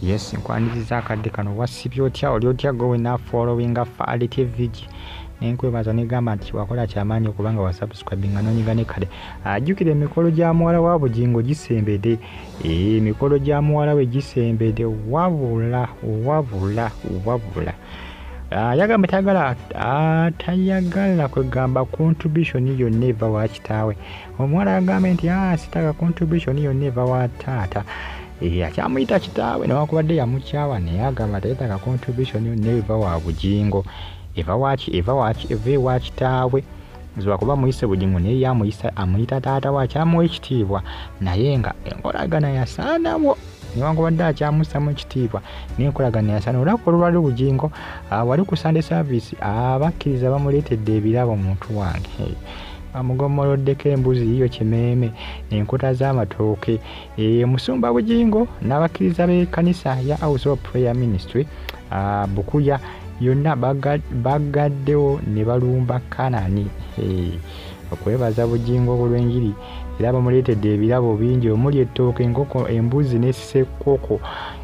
Yes, nkwaniriza akadde kano wasibye otya oli otya gowe na following Fally TV nenkwebaza negamba nti wakola kyamaanyi okuba nga wasubscribinga nonyiga ne kale ajjukira emikolo gya muwala wa bugingo gisembede ee emikolo gya muwala we gisembede wabula wabula wabula ah, yagamba tayagala ah, tayagala kwegamba contribution yonna eva wa kitaawe omuwala agambye nti ah, sitaka contribution yonna eva wa taata eh, akyamuyita kitaawe newakubadde yamukyawa naye agamba tayetaka contribution yonna eva wa bugingo eva waki eva waki eva ewa kitaawe zibakuba muyise bugingo naye yamuyisa amuyita taata we akyamuwa ekitiibwa naye nga enkolagana yasaanawo newakubadde akyamusamu ekitiibwa nenkolagana yasaana olwaka olwali bugingo ah, wali ku sande service abakkiriza bamuleetedde ebirabo muntu wange amugommoloddeko embuzi yiyo kimeeme enkota z'amatooke e, musumba bugingo n'abakkiriza b'ekkanisa ya house of prayer ministry ah, bukuya yonna bagaddewo ne balumba kanani eh, okwebaza bugingo obulw'enjiri era bamuleetedde ebirabo bingi omuli ettooke enkoko embuzi n'esekkoko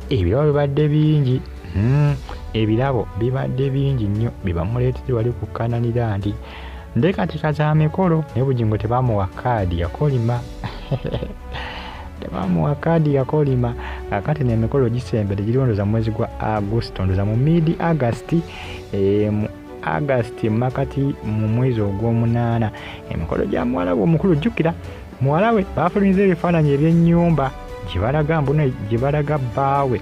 ebirabo bibadde bingi hmm, ebirabo bibadde bingi nnyo bye bamuleetedde wali kukkananira nti ndekatika za mikolo naye bugingo tebamuwa kaadi yakolima tebamuwa kaadi yakolima kakati nemikolo gisembere giriwo ndoza mwezi gwa agusto ndoza mu mid agust eh, mu agust makati mu mwezi ogwomunaana emikolo gya muwala we omukulu jjukira muwala we baafulumyiza ebifaananyi eby'ennyumba gye balaga mbuno gye balaga bbaawe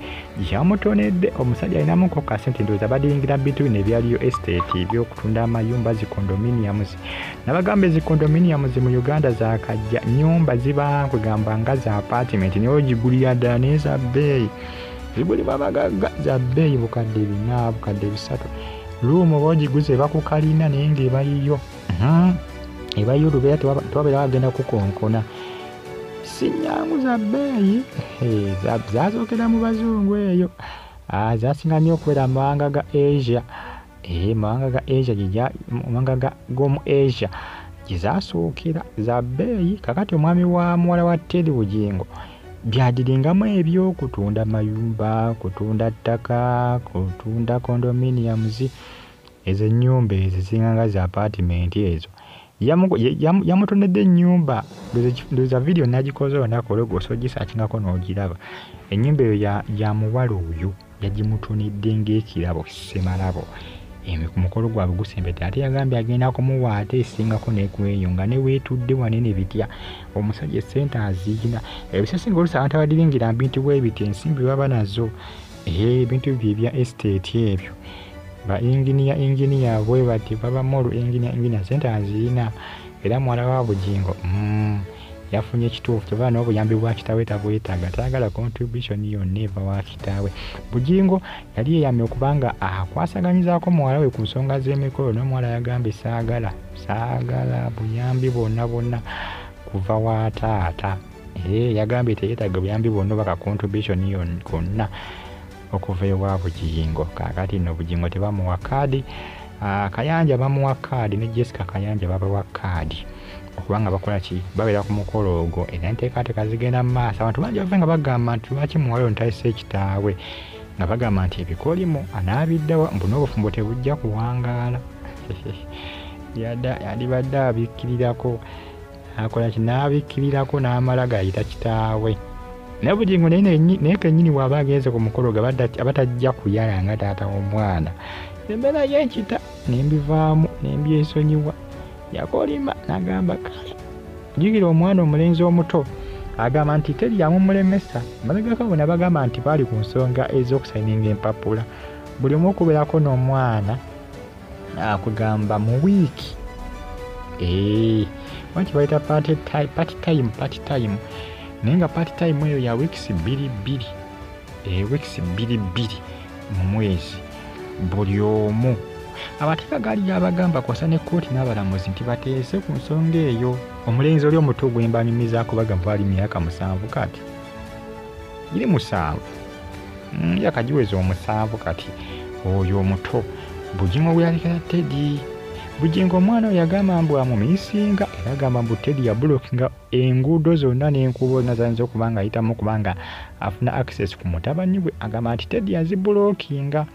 yamutonedde omusajja alinamu koka sente ndowooza badingira bintu bino ebyaliyo estate ebyokutunda amayumba zi condominiums nabagamba ezi condominiums mu uganda zakajja nyumba ziba kwegamba nga za apartment naye ogigulira ddala naye za bbeeyi zigulibwa bagagga za bbeeyi bukadde bina bukadde bisatu luumu oba ogiguze bakukalina naye ngaebayiyo Hmm. eba yulu beera tewabeera wagenda kukonkona sinyangu za bbeeyi zazookera mu bazungu eyo ah, zasinga nnyo okubeera mu mawanga ga asia ee eh, mawanga ga asia mawanga g'omu asia gye zasookera za bbeeyi kakati omwami wa muwala wa teri bugingo byadiringamu ebyokutunda mayumba kutunda ttaka kutunda condominiums Ezo enyumba ezo zisinga nga za apartment ezo yamutonedde enyumba ndoza video nagikoze olunaku olweggulo so gisakingako nogiraba enyumba eyo yamuwala oyo yagimutonedde ngaekirabo semalabo mukolo gwabwe gusembedde ate yagambye agenda kumuwa ate esingako nekweyo nga newetudde wanene bitya omusajja esente aziyina ebisesinga olusi abantu abadiringira mbintu bwebiti ensimbi baba nazo ebintu bye ebya estate ebyo ba engineer engineer bwe bati baba molu engineer engineer sente aziyina era muwala wa bugingo mm, yafunye ekituufu kyova n'obuyambi bwa kitaawe tabwetaaga tayagala contribution yonna eva wa kitaawe bugingo yali yeyamye okuba nga akwasaganyizaako muwala we ku nsonga z'emikolo n'omuwala yagambye saagala saagala buyambi bwonna bwonna kuva wa taata ee eh, yagambye teyetaaga buyambi bwonna oba ka contribution yonna okuva ewa bujingo kakati no bujingo tebamuwa kaadi ah, kayanja bamuwa kaadi ne jessica kayanja babawa kaadi okubanga bakola ki babeera ku mukolo ogwo era enteekateeka zigenda mu maaso abantu bangi bave nga bagamba nti lwaki muwala ontayise ekitaawe nga bagamba nti ebikolimo anaabiddawa mbu n'obufumbo tebujja kuwangaala yadibadde abikkirirako akola ki n'abikkirirako n'amala gayita kitaawe naye bugingo naye kenyini waaba agenze ku mukolo ge abatajja kuyala nga taata w'omwana embeera yenkita nembivaamu nembyesonyiwa yakolima nagamba kale jukira omwana omulenzi omuto agamba nti teri yamumulemesa mabegako bona bagamba nti baali ku nsonga ez'okusayininga empapula buli omu okubeerako n'omwana akugamba mu wiiki eh, waki bayita party time party time naye nga party time eyo ya weeks bbiri bbiri eh, weeks bbiri bbiri mu mwezi buli omu abateeka gaali gyabagamba kwasa ne kkooti n'abalamuzi nti bateese ku nsonga eyo omulenzi oli omuto gwembanyumizaako bagamba ali myaka musanvu kati giri musanvu mm, yakagiweza omusanvu kati oyo omuto bujingo bweyalekera tedi bujingo omwana oyo yagamba mbu amumisinga era agamba mbu tedi yabulokinga enguudo zonna n'enkuubo zonna zayinza okuba nga ayitamu kubanga afuna access ku mutabani we agamba nti tedi yazibulokinga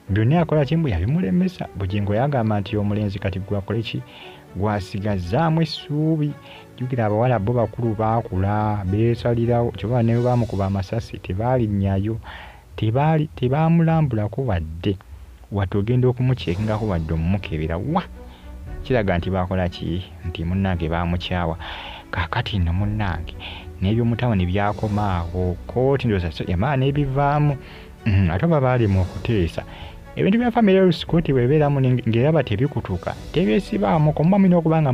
Byonna yakola ki mbu yabimulemesa? Bugingo yagamba nti omulenzi kati gwakole ki? Gwasigazzaamu essuubi? Jjukira abawala bo bakulu baakula beesalirawo kyova ne baamukuba amasasi tebaalinnyayo tebaamulambulako wadde wadde ogenda okumukyekingako wadde omumukebera wa kiraga nti baakola ki nti munnange baamukyawa kaakati nno munnange n'ebyomutawuni byakoma awo kooti ndoza yamala n'ebivaamu Mm, ate oba baalema okuteesa ebintu bya famire lusikuti bwebeeramu ngaeraba tebikutuka tebyesibaamu komuba mulina okuba nga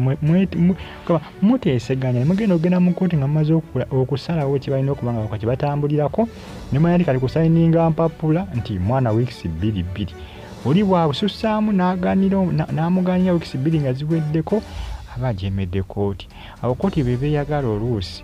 muteeseganya mugenda okugenda mu kkooti nga mumaze okusalawo kyebalina okuba nga wakati batambulirako nemanya nti kati kusayininga mpapula nti mwana wiikisi bbiri bbiri oli bwabususaamu n'amugaanira wiikisi bbiri nga ziweddeko aba ajemedde kkooti awo kkooti bebeeyagala oluusi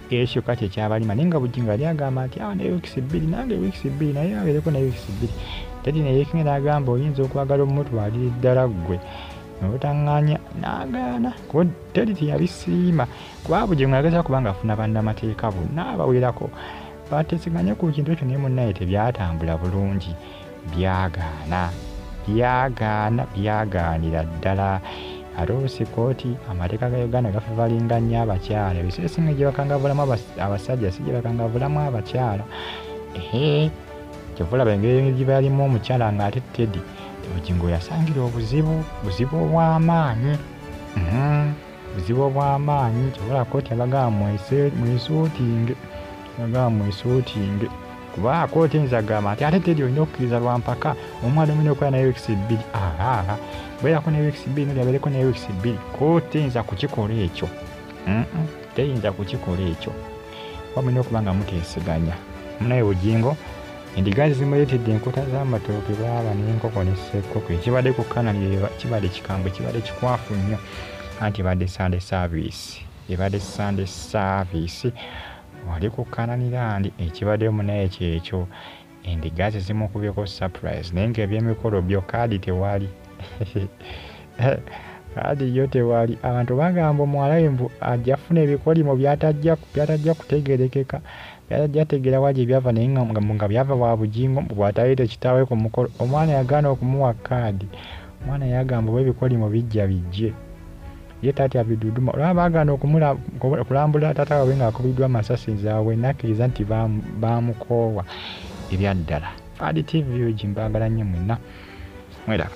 ekyo kati ekyabalima naye nga bujingo ali agamba nti awa ah, naye wikisi bbiri nange wikisi bbiri naye abeereko naye wikisi bbiri tedi neyekinga n'agamba oyinza okwagala omumutwalira eddala ggwe nobutaŋŋanya n'agaana kuba tedi teyabisiima kuba bujingo yageza kuba ngaafuna bannamateeka bonna abawerako batesiganye ku kintu ekyo naye munnaye tebyatambula bulungi byagaana byagaana byagaanira ddala ate olusi kooti amateeka ga uganda gafivalinga nnyo abakyala ebiseera esinga gye bakangavulamu abasajja si gye bakangavulamu abakyala ehe kyovulaba engeri gye balimu omukyala ng'ate tedi bugingo yasangira obuzibu buzibu obw'amaanyi mhm. buzibu obw'amaanyi kyovula kooti abagamba mwesuutinge abagamba mwesuutinge kuba kooti nza gamba nti ate teri olina okukkiriza lwa mpaka omwana omina okuba ne weeks bbiri ahaa beerako ne weeks bbiri noli abeereko ne weeks bbiri kooti nza kukikola ekyo teyinza kukikola ekyo kuba mulina okuba nga muteeseganya munaye bugingo endiga zimuleetedde enkota z'amatooke baaba n'enkoko n'essekkoko ekibadde ku kanali kibadde kikambwe kibadde kikwafu nnyo anti ebadde sande saaviisi ebadde sande saaviisi Oli ku Kanani land ekibade mu naye kyekyo endiga ze zimukubyeko surprise naye nga ebyemikolo byo card tewali card yo tewali abantu bagamba omuwalawe mbu ajja funa ebikolimo byatajja byatajja kutegerekeka byatajja tegera waje byava naye nga nga byava wa bujingo mbu bwatayite kitawe ku mukolo omwana yagana okumuwa card omwana yagamba oba ebikolimo bijja bijje ye tatya biduduma olaba bagana okulambula tata wabwe nga akubiddwa masasi nzawe nakkiriza nti bamukoowa ebyaddala fadi tv ogi mbagala nnyo mwenna mweraba